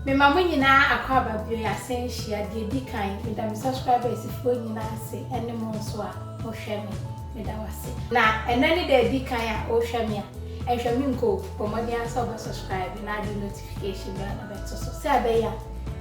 Mema mo nyinaa akwaaba bio yɛ asan nhyia deɛ ɛdi kan meda me subscribers foɔ nyinaa ase ɛne mo nso a mo hwɛ me meda wo ase na ɛnɛ ne da ɛdi kan a wo hwɛ me a ɛnhwɛ me nko bɔ mmɔden ara sɛ wobɛ subscribe na ade notification bɛn na bɛto so sɛ ɛbɛyɛ a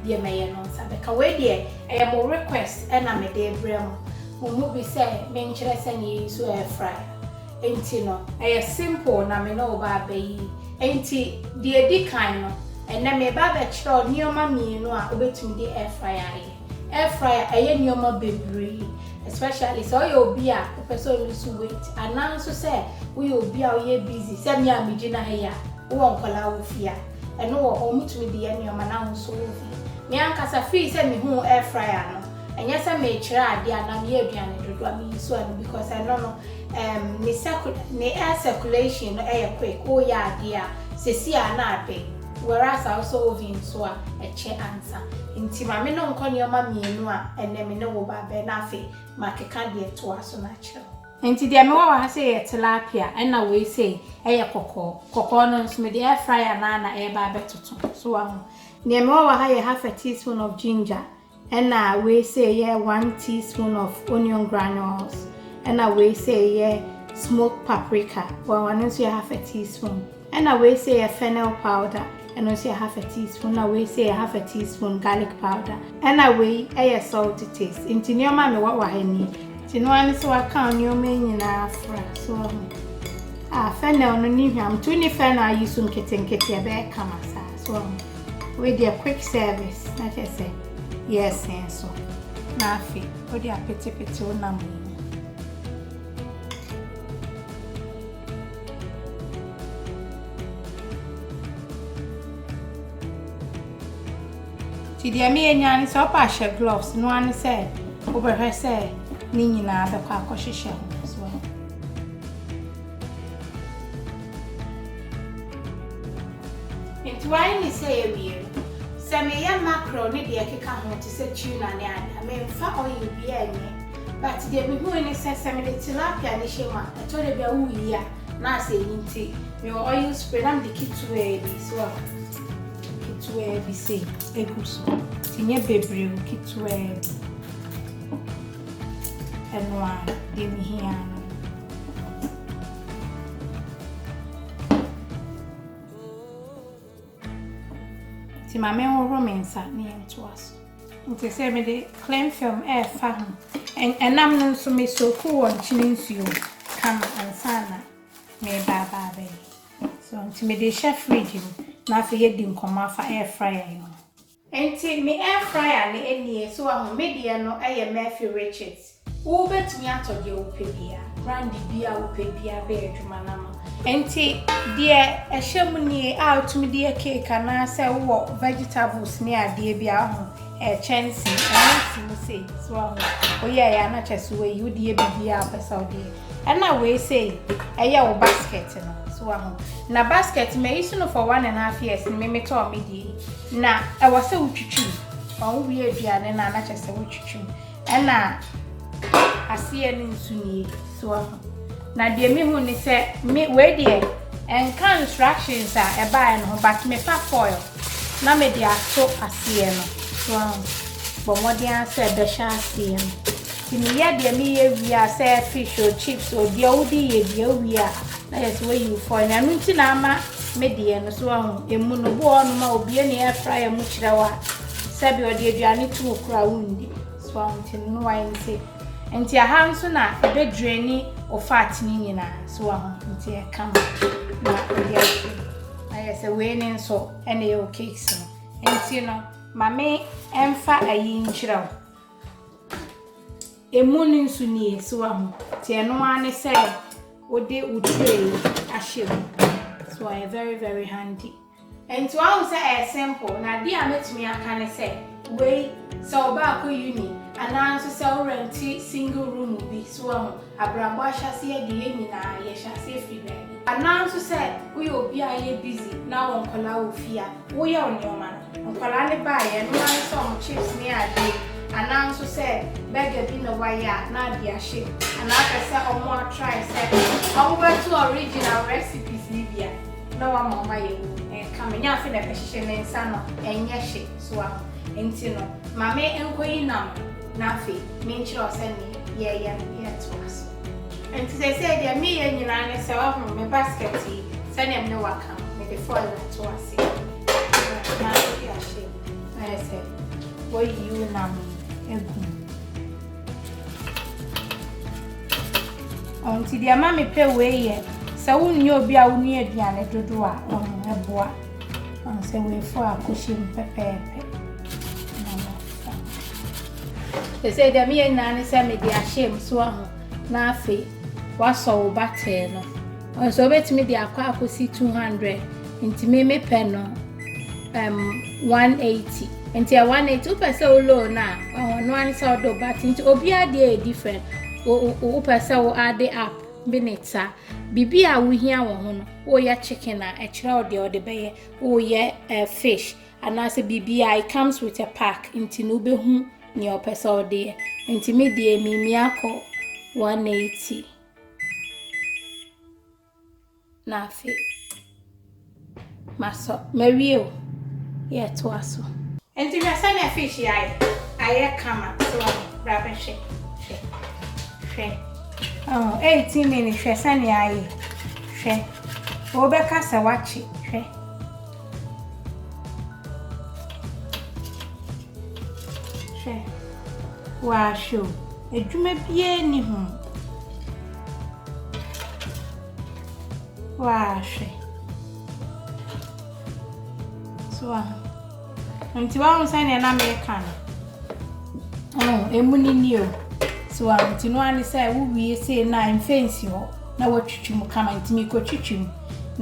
deɛ mɛyɛ no nsa bɛka wei deɛ ɛyɛ mo request ɛna mede brɛ mo mo mu bi sɛ menkyerɛ sɛ ne yɛyi so air fryer Enti no, ɛyɛ simple na me ne wo ba abɛ yi. Enti, deɛ ɛdi kan no, ɛnnɛ mereba abɛkyerɛ wo nneɛma mmienu a wobɛtumi de air fryer ayɛ. Air fryer, ɛyɛ nneɛma bebree, especially sɛ woyɛ obi a wopɛ sɛ wo lose weight, anaa nso sɛ woyɛ obi a woyɛ busy sɛ me a megyina ha yi a, wowɔ nkwadaa wɔ fie a, ɛno wɔ hɔ, wotumi de yɛ nneɛma na wo nso wo fie. Me ankasa, firi sɛ mehuu air fryer no, ɛnyɛ sɛ merekyerɛ adeɛ anaa meyɛ aduane dodo a, meyi so ɛno because ɛno no, Erm ne circu ne air circulation no yɛ quick wo yɛ adeɛ a sesi a na abe whereas a wosɔ oven nso a ɛkyɛ ansa nti ma me no nkɔ nneɛma mmienu a ɛnɛ me ne wo ba bɛ na afei ma keka deɛ toa so na kyerɛ wo. Nti deɛ me wɔ wɔ ha sei yɛ tilapia ɛna wei sei yɛ kɔkɔɔ, kɔkɔɔ no nso me de air fryer no ara na ɛreba abɛtoto so wahu. Deɛ me wɔ wɔ ha yɛ half a teaspoon of ginger. Ɛna wei sei yɛ one teaspoon of onion granules. Ɛna wei sei yɛ smoked paprika. Wɔn ano nso yɛ half a teaspoon. Ɛna wei sei yɛ fennel powder. Ɛno nso yɛ half a teaspoon. Ɛna wei sei yɛ half a teaspoon garlic powder. Ɛna wei yɛ salt to taste. Nti nneɛma a mewɔ wɔ ha nie. Nti no ano sɛ waka nneɛma yi nyinaa afra so ɔho. Ah, fennel no ne hwam. Nti wonni fennel ayi so nketenkete ɛbɛyɛ kama saa so ɔho. Wei deɛ quick service na kyerɛ sɛ yɛɛsen so. Na afe wode apetepete wo nam no mu. Ti deɛ meyɛ nyaa ne sɛ ɔpɛ ahyɛ gloves no ane sɛ wobɛhwɛ sɛ ne nyinaa bɛkɔ akɔhyehyɛ ho. Enti w'ayɛ ne sɛ awie no, sɛ meyɛ mackerel ne deɛ ɛkeka ho te sɛ tuna ne ade a, memfa oil biara nyɛ. But deɛ mehui ne sɛ, sɛ mede tilapia no hyɛ mu a, ɛtɔ da bi a woyi a na asɛ ayi nti mewɔ oil spray na mede ketewaa bi, so ahu, ketewaa bi sei gu so. Nti nyɛ bebree o, ketewaa bi. ɛnoa deɛ mehia no. Nti ma menhohoro me nsa na yɛntoa so. Nti sɛ mede clean film ɛrefa ho. Ɛnam no nso mesoko wɔ nkyene nsuo kama ansa na meba aba abɛyɛ. So nti mede hyɛ fridge mu na afei yɛdi nkɔmmɔ afa ɛrefra yɛn ho. Enti me airfryer no nie, so wahu, me deɛ no yɛ Murphy Richards. Wo bɛtumi atɔ deɛ wo pɛ biara, brand biara wo pɛ biara bɛyɛ adwuma no ama wo. Enti deɛ ɛhyɛ mu nie a wotumi de yɛ cake anaa sɛ wo wɔ vegetables ne adeɛ bi a wahu, ɛyɛ kyɛnsee, ɛno si mu sei, so wahu, wo yɛɛyɛ a na kyerɛ sɛ wayi, wo de yɛ biribiara a wo pɛ sɛ wo de yɛ. Ɛna wei sei ɛyɛ wo basket no so wa ho na basket mɛyi so no for one and a half years no meme tɔɔ me deɛ yi na ɛwɔ sɛ wotwitwi mu ɔho wie aduane no a na kyɛ sɛ wotwitwi mu ɛna aseɛ no nso nie so wa ho na deɛ mehu ne sɛ me wei deɛ ɛnka instructions a ɛbaeɛ no ho but mefa foil na mede ato aseɛ no so wa ho bɔ mmɔden ara sɛ ɛbɛhyɛ aseɛ no Nti meyɛ deɛ meyɛ wie a sɛ fish o chips o deɛ wode yɛ bia wowie a na yɛ sɛ woayi wo fɔn no ɛno nti na ama me deɛ no so ahu ɛmu no bi wɔ hɔ nom a obie ne air fryer mu kyerɛ wo a sɛbi ɔde aduane to wo kora wondi so ahu nti no no wayɛ nti nti aha nso na ɛbɛdwani o fat ne nyinaa so ahu nti ɛka mu na ɔde ahwɛ ayɛ sɛ wei ne nso ɛna ɛwɔ cakes no nti no ma me ɛmfa ayi nkyerɛ wo Emu no nso nie, so wahu? Nti ɛno ara ne sɛ wode wo tray ahyɛ mu. So ɛyɛ very very handy. Nti wahu sɛ ɛyɛ simple na adeɛ a mɛtumi aka ne sɛ wei sɛ ɔba akɔ uni anaa nso sɛ worɛnte single room bi so wahu abrabɔ ahyɛseɛ de yɛ nyinaa yɛhyɛ aseɛ firi baabi anaa nso sɛ woyɛ obi a yɛ busy na wɔ nkɔla wɔ fie a Wo yɛ wo nneɛma no. Nkwadaa no baeɛ a, nneɛma no sɛ wɔn chips ne adeɛ, anaa nso sɛ burger bi na wɔayɛ a, na ade ahye. Anaa pɛ sɛ wɔn a try sɛ wɔn bɛto original recipes no bi a, na wɔn ama wɔn ayɛ wɔ mu. Ɛnka me. Nyɛ afe na ɛbɛ hyehyɛ me nsa no ɛnyɛ hye. So waho? Nti no, ma me nkɔ yi nam no, na afei me nkyerɛ wo sɛ neɛ yɛyɛ no yɛ toa so. Nti seesei deɛ me yɛ nyinaa ne sɛ, waho, me basket yi, sɛdeɛ me ne wo aka. mede foil ato ase na adi ahye na ayɛ sɛ woayi wo nam agu nti deɛ ma mepɛ wei yɛ sɛ wonni obi a wonni aduane dodoɔ a ɔno ɛboa sɛ weifo a kɔhyɛ mu pɛpɛɛpɛ ɛsɛ deɛ meyɛ nyinaa ne sɛ mede ahyɛ mu so aho na afei woasɔ wo batɛɛ no Nso wobɛtumi de akɔ akɔsi 200 nti me me pɛ no um, 180 nti ɛ 180 wopɛ sɛ wo low no a ɔno ane sɛ wode woba te nti obiara deɛ yɛ different wopɛ sɛ wo ade up bi ne ta biribi a wohia wɔ ho no woyɛ chicken a ɛkyerɛ wo deɛ wode bɛyɛ woyɛ uh, fish anaasɛ biribi a it comes with a pack nti no wobɛhu nea ɔpɛ sɛ wode yɛ nti me deɛ mimi akɔ 180 na afe masɔ mawie o yɛ to aso nti hwɛ sɛ na fish yɛ ayɛ ayɛ kama so bra bɛ hwɛ hwɛ hwɛ oh 18 minutes hwɛ sɛ ne ayɛ hwɛ wɔbɛka sɛ wakye hwɛ Hwɛ, wɔahwɛ o, adwuma biara nni ho. Wɔahwɛ. So wa nti wɔahu sɛdeɛ na meka no. Oh, emu ni ni o. So wa nti no ara ne sɛ wowie sei no a mfɛnsi hɔ na wɔatwitwi mu kama nti mekɔtwitwi mu.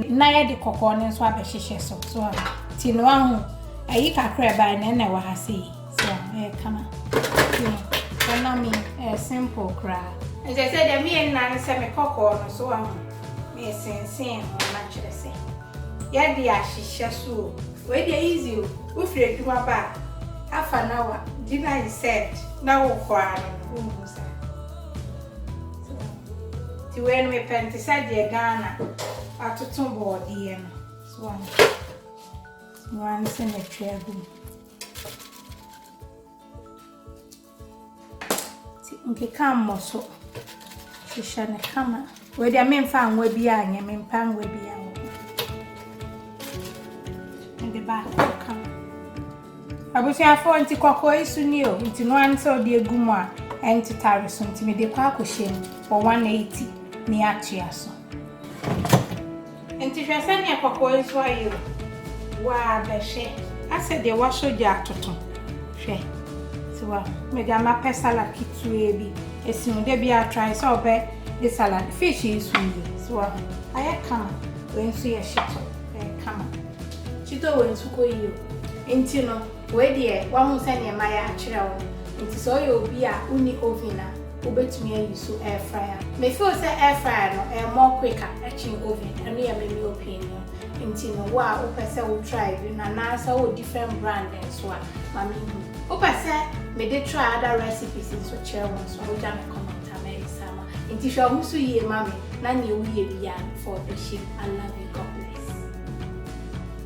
Na yɛde kɔkɔɔ no nso abɛhyehyɛ so so a ti no ahu ayi kakra ɛbae na ɛna ɛwɔ ha sei so a ɛyɛ kama ɛnam yi ɛyɛ simple koraa nti sɛ deɛ meyɛ nna no sɛ me kɔkɔɔ no so ahu mesensen ho na kyerɛ sɛ yɛde ahyehyɛ so o wei deɛ easy o wofiri adwuma ba a half an hour di na yi set na wokɔ ara no wohu saa Nti wei no mepɛ no te sɛ deɛ Ghana atoto bɔɔdeɛ no. So wɔn wɔn ne sɛ metwe agu mu. Nti nkeka mmɔ so. Hyehyɛ no kama. Wei deɛ memfa nwa biara nyɛ mempa nwa biara wɔ mede baako ka abusuafoɔ nti kɔkɔɔ yi so ni o nti no ano sɛ wode agu mu a ɛntetare so nti mede kɔ akɔhyɛ mu wɔ 180 ne atua so Nti hwɛ sɛdeɛ kɔkɔɔ nso ayɛ o, waa bɛhwɛ. Asɛ deɛ wasɔ gya atoto, hwɛ. So wahu, me deɛ mapɛ salad ketewa bi, ɛsi mu, da biara try sɛ ɔbɛ de salad, fish nso nie, so wahu, ayɛ kama, wei nso yɛ shito, ɛyɛ kama. Shito wei nso kɔ yie o, nti no. Wei deɛ wahu sɛdeɛ mayɛ akyerɛ wo nti sɛ woyɛ obi a wonni oven a wobɛtumi ayi so air fryer. Me feel sɛ air fryer no ɛyɛ more quicker kyen oven ɛno yɛ me me opinion nti no wo a wopɛ sɛ wo try bi no anaa sɛ wowɔ different brand nso a ma me hu. Wopɛ sɛ me de try other recipes nso kyerɛ wo nso a wogya me comment a mɛyɛ saa ama wo nti hwɛ wo ho so yie ma me na neɛ woyɛ biara no fa ɔdɔ hyɛ mu I love you God bless.